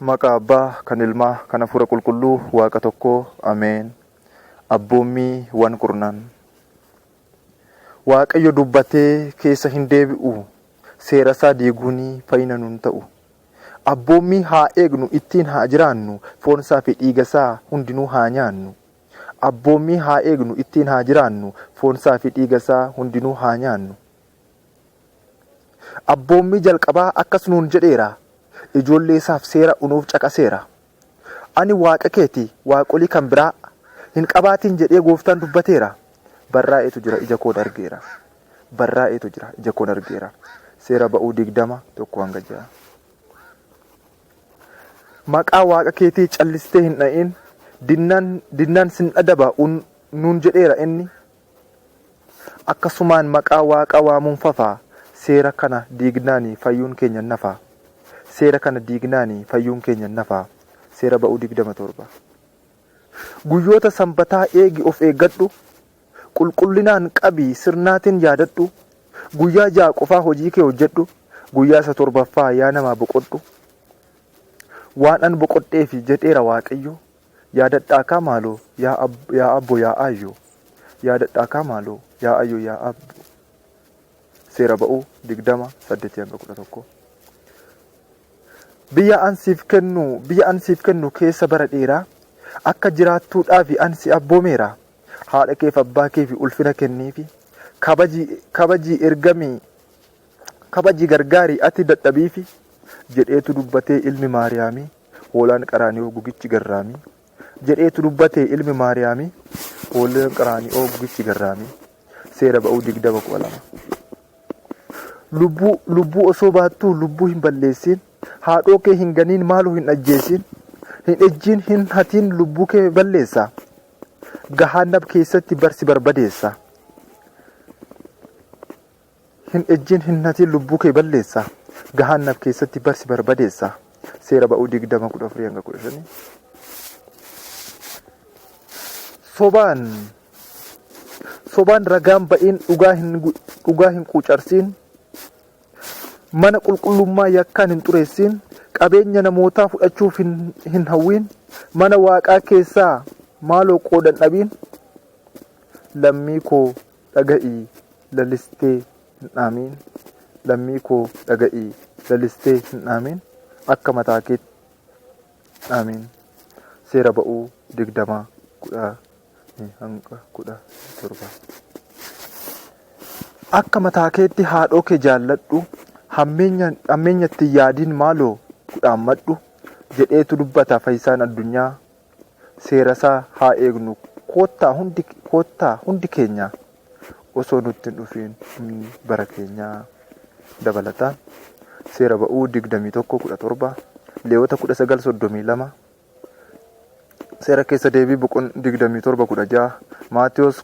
Maqaa Abbaa, kan Ilmaa, kan Hafuura Qulqulluu, Waaqa tokkoo. Ameen. Abboommii wan kurnan. Waaqayyo dubbatee keessa hin deebi'u. Seerasaa diiguun fayyina nun ta'u. Abboommii haa eegnu, ittiin haa jiraannu, foonsaa fi dhiigasaa hundinuu haa nyaannu. Abboommii haa eegnu, ittiin haa jiraannu, foonsaa fi dhiigasaa hundinuu haa nyaannu. Abboommii jalqabaa akkas nuun jedheera, ijoollee isaaf seera unuuf caqaseera. Ani Waaqa kee ti, waaqolii kan biraa hin qabaatiin jedhee gooftaan dubbateera. Barraa'eetu jira, ija koon argeera. Barraa'eetu jira, ija koon argeera. Seera ba'uu 20, 1-6. Maqaa Waaqa keetii callistee hin dha'iin, dinnaan, dinnaan sin adaba un, nuun jedheera inni, Akkasumaan maqaa Waaqa waamuun fafa, seera kana diignaani fayyuun keenya hin hafa. Seera kana diignaani fayyuun keenya hin hafa. Seera Ba'uu 20 7. Guyyoota sanbataa eegi of eeggadhu, qulqullinaan qabi sirnaatin yaadadhu, guyyaa ja'a qofaa hojii kee hojjedhu, guyyaa isa torbaffaa yaa namaa boqodhu. Waan an boqodheefi jedheera Waaqayyo, Yaadadhaakaa maaloo yaa abbo yaa aayyo Yaadadhaakaa maaloo yaa aayyo yaa abbo Seera ba'uu 20 8-11 Biyya an siif kennu biyya an siif kennu keessa bara dheeraa akka jiraattuudhaafi an si abboomeera haadha keef abbaa keefi ulfina kenniifi kabaji kabaji ergami kabaji gargaari ati dadhabiifi jedheetu dubbatee ilmi maariyaamii Hoolaan Qaraani'oo gugichi garraami. Jedheetu dubbate ilmi Maariyaami. Hoolaan Qaraani'oo gugichi garraami. Seera ba'uu digdama kudha lama. Lubbuu, lubbuu osoo baattuu lubbuu hin balleessiin. Haadhoo kee hin ganiin maaloo hin ajjeesiin. Hin ejjiin hin hatiin lubbuu kee balleessa. Gahaannab keessatti barsi barbadeessa. Hin ejjin hin hatin lubbuu kee balleessa gahaannab keessatti barsi barbadeessa seera ba'uu 20:14-15 Sobaan sobaan ragaan ba'iin dhugaa hin dhugaa hin quucarsiin mana qulqullummaa yakkaan hin xureessiin qabeenya namootaa fudhachuuf hin, hin hawwiin mana waaqaa keessaa maaloo qoodan dhabiin lammii koo dhaga'ii lalistee hin dhaamiin lammii koo dhaga'ii lalistee hin dhaamiin akka mataa keetti dhaamiin seera ba'uu 20 10 hanga 17 akka mataa keetti haadhoo kee jaalladhu hammeenya hammeenyatti hin yaadiin maaloo kudhaammadhu jedheetu dubbata fayyisaan addunyaa seerasaa haa eegnu koottaa hundi koottaa hundi keenya osoo nutti hin dhufiin humni bara keenyaa dabalata seera ba'uu 21:17 leewota 19:32 seera keessa deebii boqon 27:16 maatiyoos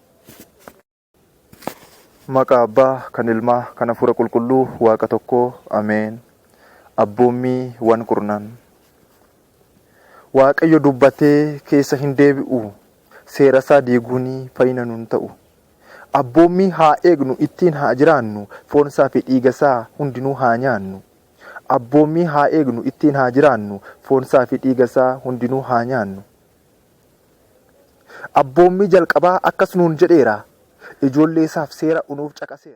Maqaa Abbaa, kan Ilmaa, kan Hafuura Qulqulluu, Waaqa tokkoo. Ameen. Abboommii wan kurnan. Waaqayyo dubbatee keessa hin deebi'u. Seerasaa diiguun fayyina nun ta'u. Abboommii haa eegnu, ittiin haa jiraannu, foonsaa fi dhiigasaa hundinuu haa nyaannu. Abboommii haa eegnu, ittiin haa jiraannu, foonsaa fi dhiigasaa hundinuu haa nyaannu. Abboommii jalqabaa akkas nuun jedheera, Ijoolleesaaf seera unuuf caqaseera.